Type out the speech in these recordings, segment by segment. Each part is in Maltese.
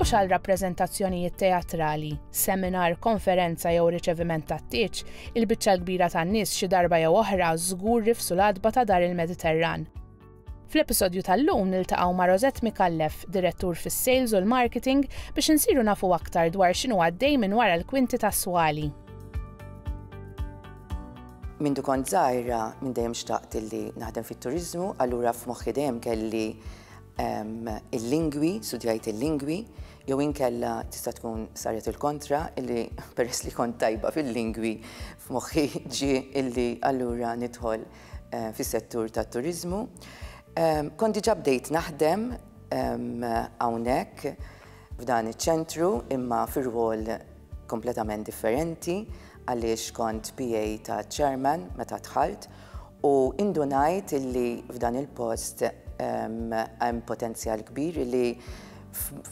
u xal rappreżentazzjonijiet teatrali, seminar, konferenza jew riċeviment tat-tieġ, il-biċċa l-kbira tan-nies xi darba jew oħra żgur rifsu l-adba ta' dar il-Mediterran. Fl-episodju tal-lum niltaqgħu ma' Rosette Mikallef, direttur fis-sales u l-marketing, biex insiru nafu aktar dwar x'inhu għaddej minn wara l-kwinti ta' Swali. Mindu kont żgħira minn dejjem xtaqt illi naħdem fit-turiżmu, allura f'moħħi dejjem kelli ehm, il-lingwi, studjajt il-lingwi, jew inkella tista' tkun saret il-kontra illi peress li kont tajba fil-lingwi f'moħħi ġi illi allura nidħol eh, fis-settur tat-turiżmu. Ehm, kont diġà bdejt naħdem ehm, hawnhekk f'dan iċ-ċentru imma fir-rwol kompletament differenti għaliex kont PA ta' chairman meta dħalt u indunajt illi f'dan il-post hemm potenzjal kbir illi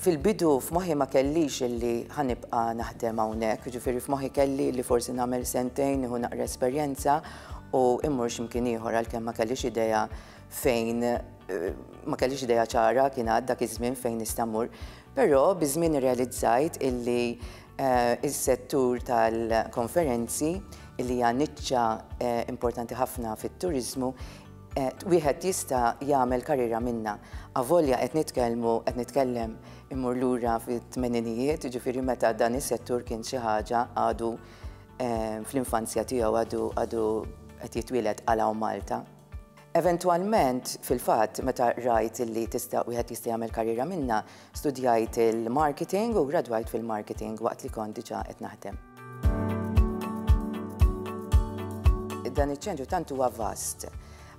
fil-bidu f'moħħi ma kellix illi ħanibqa' naħdem hawnhekk, ġifieri f'moħħi kelli li forsi nagħmel sentejn nieħu naqra esperjenza u immur x'imkien ieħor għalkemm ma kellix idea fejn ma kellix idea ċara kien għad dak iż-żmien fejn nista' mmur. Però biż-żmien irrealizzajt illi s-settur tal-konferenzi, illi hija niċċa importanti ħafna fit-turiżmu, wieħed jista' jagħmel karriera minnha. Avolja qed nitkellmu, qed nitkellem immur lura fit-tmeninijiet, jiġifieri meta dan is-settur kien xi ħaġa għadu fl-infanzja tiegħu, għadu qed jitwieled Qala u Malta. Eventwalment, fil-fatt, meta rajt li tista' wieħed jista' jagħmel karriera minnha, studjajt il-marketing u gradwajt fil-marketing waqt li kont diġà qed naħdem. Dan iċ-ċentru tant huwa vast.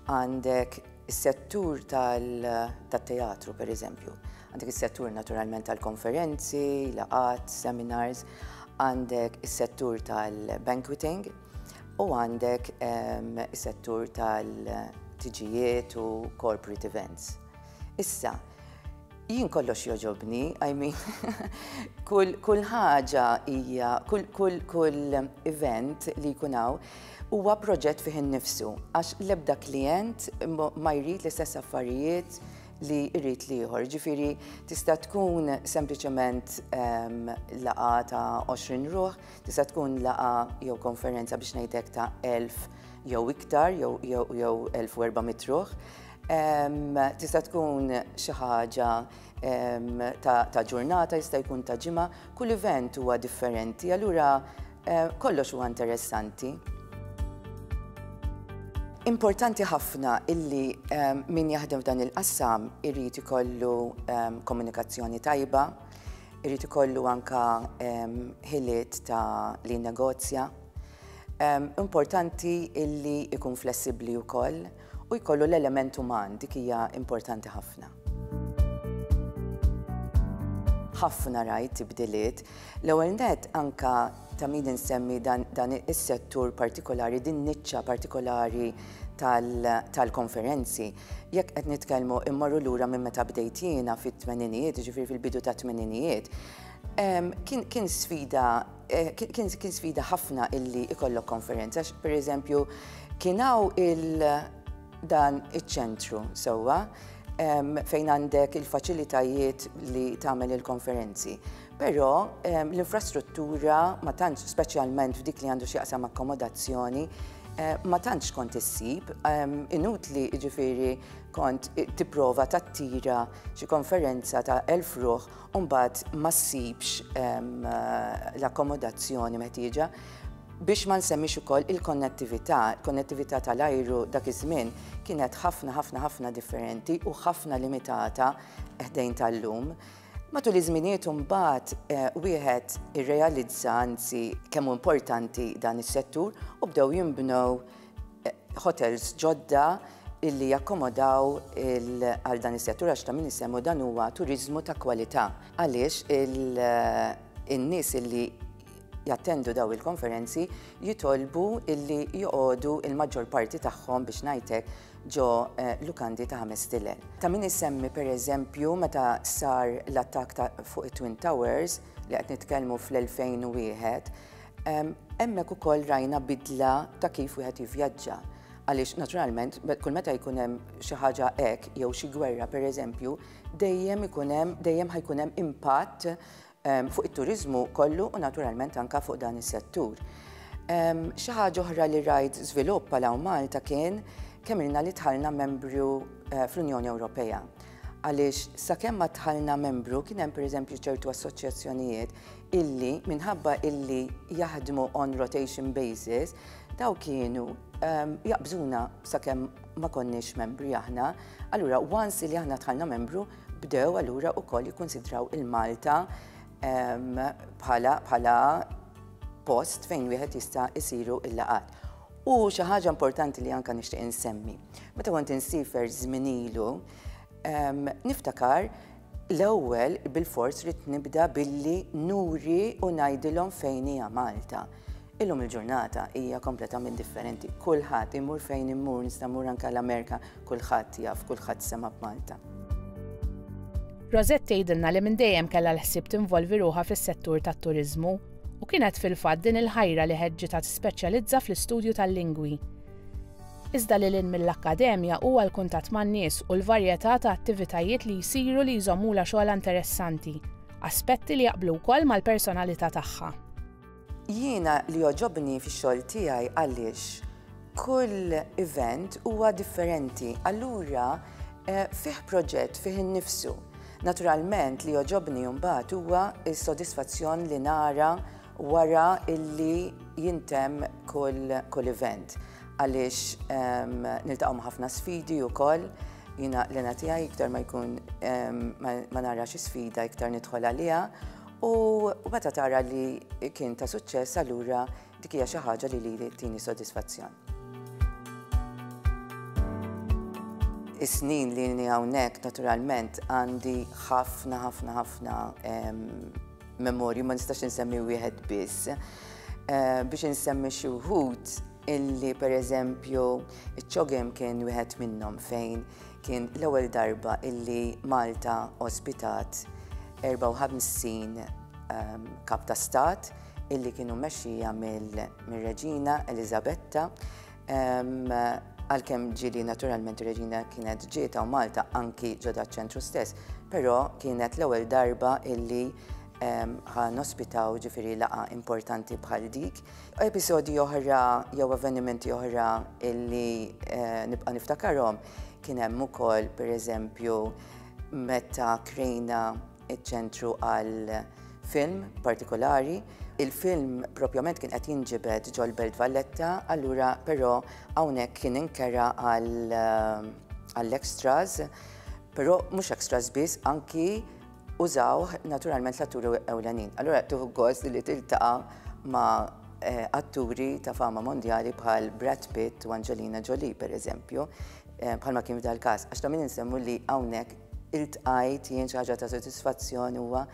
Għandek is-settur tat-teatru, pereżempju. Għandek is-settur naturalment tal-konferenzi, laqgħat, seminars, għandek is-settur tal-banqueting, U għandek is-settur tal-tiġijiet u corporate events. Issa, jien kollox joġobni, I mean, kull ħaġa hija, kull event li jkun hawn, huwa proġett fih innifsu, għax l-ebda klijent ma jrid l-istess affarijiet li jrid l-ieħor. Ġifieri tista' tkun sempliċement laqgħa ta' 20 ruħ, Tista' tkun laqgħa jew konferenza biex ngħid hekk ta' 1000 jew iktar jew 1400 ruħ. Tista' tkun xi ħaġa ta' ġurnata, jista' jkun ta' ġimgħa, kull event huwa differenti, allura kollox huwa interessanti. Importanti ħafna illi min jaħdem f'dan il-qassam irid ikollu komunikazzjoni tajba, Irid ikollu anka ħiliet ta' li negozja. Importanti illi ikun flessibbli wkoll u jkollu l-element uman dik hija importanti ħafna. ħafna rajt tibdiliet. L-ewwel net anka ta' min insemmi dan is-settur partikolari, din niċċa partikolari tal-konferenzi. Jekk qed nitkellmu immorru lura minn meta bdejt jiena fit-tmeninijiet, jiġifieri fil-bidu tat-tmeninijiet, kien sfida kien sfida ħafna illi ikollok konferenza. Pereżempju, kien hawn il dan iċ-ċentru sewwa fejn għandek il-faċilitajiet li tagħmel il-konferenzi. Però l-infrastruttura ma tantx speċjalment f'dik li għandu x'jaqsam akkomodazzjoni Eh, ma tantx kont issib, ehm, inutli ġifiri kont tipprova tattira xi konferenza ta' elf ruħ u mbagħad ma ssibx ehm, eh, l-akkomodazzjoni meħtieġa biex ma nsemmix ukoll il-konnettività, il-konnettività tal-ajru dak iż-żmien kienet ħafna ħafna ħafna differenti u ħafna limitata ħdejn tal-lum. Matul iż-żminijiet imbagħad wieħed irrealizza anzi kemm importanti dan is-settur u bdew jinbnew hotels ġodda illi jakkomodaw għal dan is-settur għax ta' min isemmu dan huwa turiżmu ta' kwalità għaliex in-nies illi jattendu dawn il-konferenzi jitolbu illi joqogħdu il-maġġor parti tagħhom biex ngħidlek ġo eh, lukandi ta' ħames tilel. Ta' min isemmi pereżempju meta sar l-attak fuq it-Twin Towers li qed nitkellmu fl-2001, hemmhekk ukoll rajna bidla ta' kif wieħed jivvjaġġa. Għaliex naturalment kull meta jkun hemm xi ħaġa hekk jew xi gwerra pereżempju, dejjem ikun hemm dejjem ħajkun hemm impatt fuq it-turiżmu kollu u naturalment anke fuq dan is-settur. Xi ħaġa oħra li rajt żvilupp għal hawn Malta kien kemm ilna li dħalna membru eh, fl-Unjoni Ewropea. Għaliex sakemm ma dħalna membru kien hemm pereżempju ċertu assoċjazzjonijiet illi minħabba illi jaħdmu on rotation basis daw kienu ehm, jaqbżuna sakemm ma konniex membri aħna, allura once li aħna dħalna membru Bdew allura wkoll jikkunsidraw il-Malta bħala post fejn wieħed jista' jsiru l-laqgħat. U xi ħaġa importanti li anka nixtieq insemmi. Meta kont insifer żminilu, niftakar l-ewwel bil-fors rid nibda billi nuri u ngħidilhom fejn hija Malta. Illum il-ġurnata hija kompletament differenti. Kulħadd imur fejn imur, nista' mmur anke l-Amerika, kulħadd jaf, kulħadd sema' b'Malta. Rosette tgħidilna li minn dejjem kellha l-ħsieb tinvolvi ruħha fis-settur tat-turiżmu u kienet fil-fatt din il-ħajra li ħeġġitha tispeċjalizza fl-istudju tal-lingwi. Iżda lil hinn mill-akkademja huwa l-kuntatt man-nies u l-varjetà ta' attivitajiet li jsiru li jżommulha xogħolha interessanti, aspetti li jaqblu wkoll mal-personalità tagħha. Jiena li jogħġobni fix-xogħol tiegħi għaliex kull event huwa differenti, allura eh, fih proġett fih innifsu. Naturalment li jogħġobni mbagħad huwa s-sodisfazzjon li nara wara illi jintem kull, kull event. Għaliex ehm, niltaqgħu ħafna sfidi wkoll, jiena l-ena tiegħi iktar ma jkun ehm, ma, ma narax sfida iktar nidħol għaliha U meta tara li kien ta' suċċess allura dik hija xi ħaġa li lili tini sodisfazzjon. Is-snin li ni hawnhekk naturalment għandi ħafna ħafna ħafna memorju ma nistax insemmi wieħed biss. Eh, biex insemmi xi wħud illi pereżempju iċ-ċogem kien wieħed minnhom fejn Kien l-ewwel darba illi Malta ospitat 54 ehm, kap ta' stat illi kienu mexxija mill-Reġina Elizabetta ehm, għalkemm ġili naturalment Reġina kienet ġieta u Malta anki ġoda ċentru stess, però kienet l-ewwel darba illi ħan ospitaw ġifiri laqa importanti bħal dik Episodji oħra jew avvenimenti oħra illi eh, nibqa' niftakarhom kien hemm ukoll pereżempju meta krejna iċ-ċentru għal film partikolari. Il-film propjament kien qed jinġibed ġol Belt Valletta, allura però hawnhekk kien inkera għal eh, għall-extras, però mhux extras biss anki użawh naturalment l-atturi ewlenin. Allura tuħu gost li tiltaqa' ma' eh, atturi ta' fama mondjali bħal Brad Pitt u Angelina Jolie, per eżempju, eh, bħal ma kien f'dal każ. Għax ta' min insemmu li hawnhekk iltqajt jien xi ħaġa ta' sodisfazzjon huwa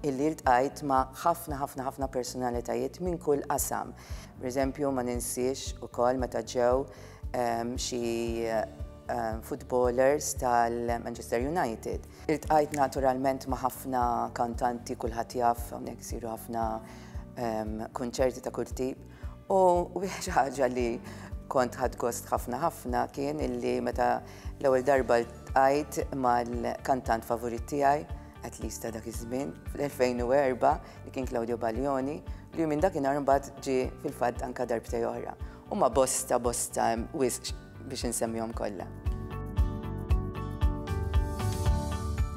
illi iltqajt ma' ħafna ħafna ħafna personalitajiet minn kull qasam. Per eżempju, ma ninsiex ukoll meta ġew ehm, xi ehm, footballers tal-Manchester United Iltqajt naturalment ma' ħafna kantanti, kulħadd jaf, hawnhekk isiru ħafna kunċerti ta' kull tip. U xi ħaġa li kont ħadd gost ħafna ħafna kien illi meta l-ewwel darba ltqajt mal-kantant favorit tiegħi, at least ta' dak iż-żmien, fl-2004, li kien Claudio Baglioni, li minn dakinhar mbagħad ġie fil-fatt anka darbtej oħra. Huma bosta bosta wisq biex insemmihom kollha.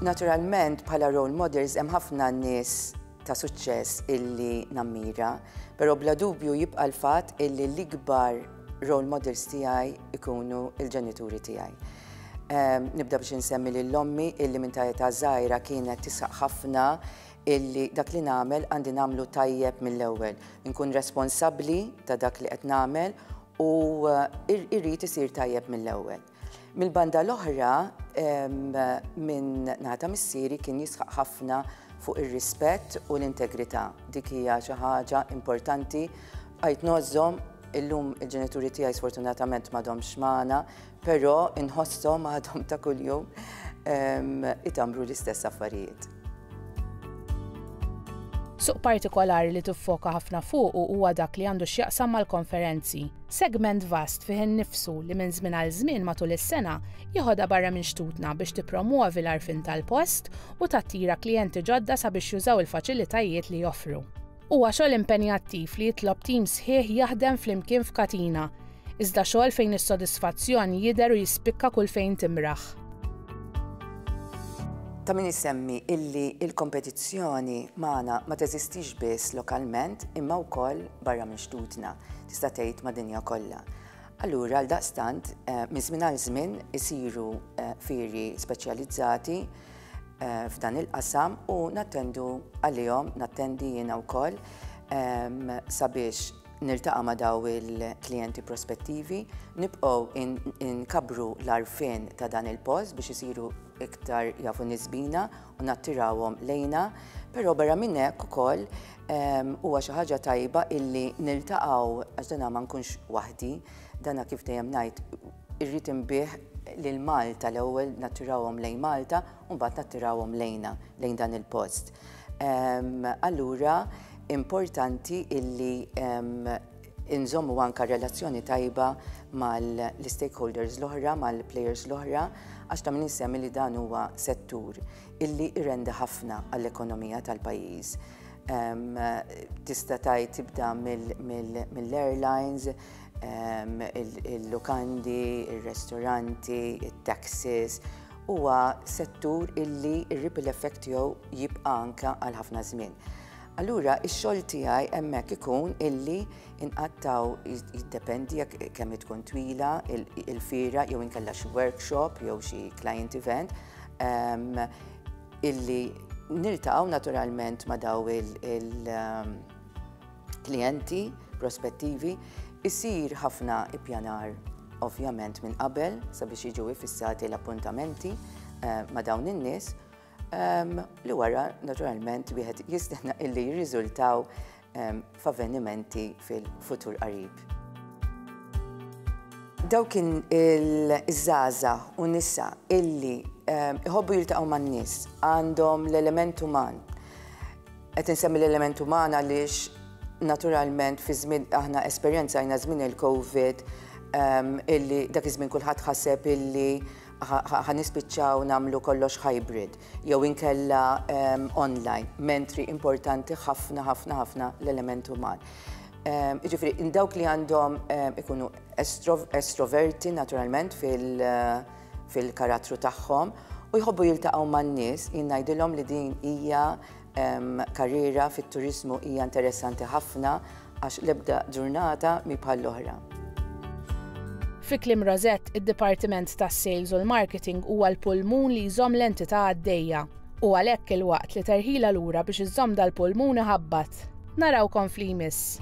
Naturalment bħala role models hemm ħafna nies ta' suċċess illi nammira, però bla dubju jibqa' l-fatt illi l-ikbar role models tiegħi ikunu il-ġenituri tiegħi. Ehm, nibda biex insemmi lill-ommi illi minn ta' età żgħira kienet tisaq ħafna illi dak li nagħmel għandi nagħmlu tajjeb mill-ewwel, inkun responsabbli ta' dak li qed nagħmel u eh, irrid isir tajjeb mill-ewwel. Mill-banda l-oħra minn nata missieri kien jisħaq ħafna fuq ir-rispett u l-integrità. Dik hija xi ħaġa importanti għajt nożżom illum il-ġenituri tiegħi sfortunatament m'għadhomx magħna, Però inħosshom għadhom ta' kuljum itamru l-istess affarijiet. Suq partikolari li tiffoka ħafna fuqu huwa dak li għandu x'jaqsam mal-konferenzi. Segment vast fih innifsu li minn żmien għal żmien matul is-sena jiħodha barra minn xtutna biex tippromwovi l-għarfien tal-post u tattira klijenti ġodda sabiex jużaw il-faċilitajiet li joffru. Huwa xogħol impenjattiv li jitlob tim sħiħ jaħdem flimkien f'katina, iżda xogħol fejn is-sodisfazzjon jidher u jispikka kull fejn timraħ. Ta' min isemmi illi l-kompetizzjoni magħna ma teżistix biss lokalment imma wkoll barra minn xtutna, tista' tgħid ma' dinja kollha. Allura għal daqstant, eh, minn żmien għal żmien isiru eh, firi speċjalizzati f'dan il-qasam u nattendu għalihom, nattendi jiena wkoll sabiex niltaqa' ma' daw il-klijenti prospettivi, nibqgħu nkabru l-għarfien ta' dan il-post biex isiru iktar jafu nies bina u nattirawhom lejna, però barra minn hekk ukoll huwa xi ħaġa tajba illi niltaqgħu għax dan ma nkunx waħdi, dan kif dejjem ngħid, Irrid inbigħ lil Malta, l-ewwel nattirawhom lejn Malta u mbagħad nattirawhom lejna, lejn dan il-post. Allura importanti illi inżommu anka relazzjoni tajba mal-stakeholders l-oħra, mal-players l-oħra, għax ta' min insemmi li dan huwa settur illi irrendi ħafna għall-ekonomija tal-pajjiż. Tista' tgħid tibda mill-airlines, il-lukandi, ir-restoranti, it-taxis, huwa settur illi r-ripple effect tiegħu jibqa' anke għal ħafna żmien. Allura, ix-xogħol tiegħi hemmhekk ikun illi inqattaw jiddependi jekk kemm tkun twila il-fira jew inkella xi workshop jew xi client event ehm, illi niltaqgħu naturalment ma' daw il- ehm, klijenti prospettivi, isir ħafna ippjanar ovvjament minn qabel sabiex jiġu ifissati l-appuntamenti eh, ma' dawn in-nies ehm, li wara naturalment wieħed jistenna illi jirriżultaw ehm, f'avvenimenti fil-futur qarib. Daw kien il-żaza u nisa illi ehm, iħobbu jiltaqgħu man-nies għandhom l-element uman Qed insemmi l-element uman għaliex naturalment fi żmien aħna esperjenzajna żmien il-COVID illi dak iż-żmien kulħadd ħaseb illi ħanispiċċaw nagħmlu kollox hybrid jew inkella online, mentri importanti ħafna ħafna ħafna l-element uman. Jiġifieri in dawk li għandhom ikunu estroverti naturalment fil-karattru tagħhom u jħobbu jiltaqgħu man-nies, jien ngħidilhom li din hija Karriera fit-turiżmu hija interessanti ħafna għax l-ebda ġurnata mhi bħall-oħra. Fi kliem Rosett, id-dipartiment tas-sales u l-marketing huwa l-pulmun li jżomm l-entità għaddejja. U għalhekk il-waqt li terħilha lura biex iżżomm dal-pulmun iħabbat. Narawkom f'li jmiss.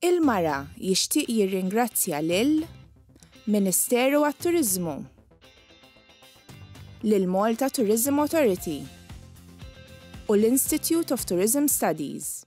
Il-Mara jixtieq jirringrazzja lil Ministeru għat-Turiżmu, lill-Malta Tourism Authority u l-Institute of Tourism Studies.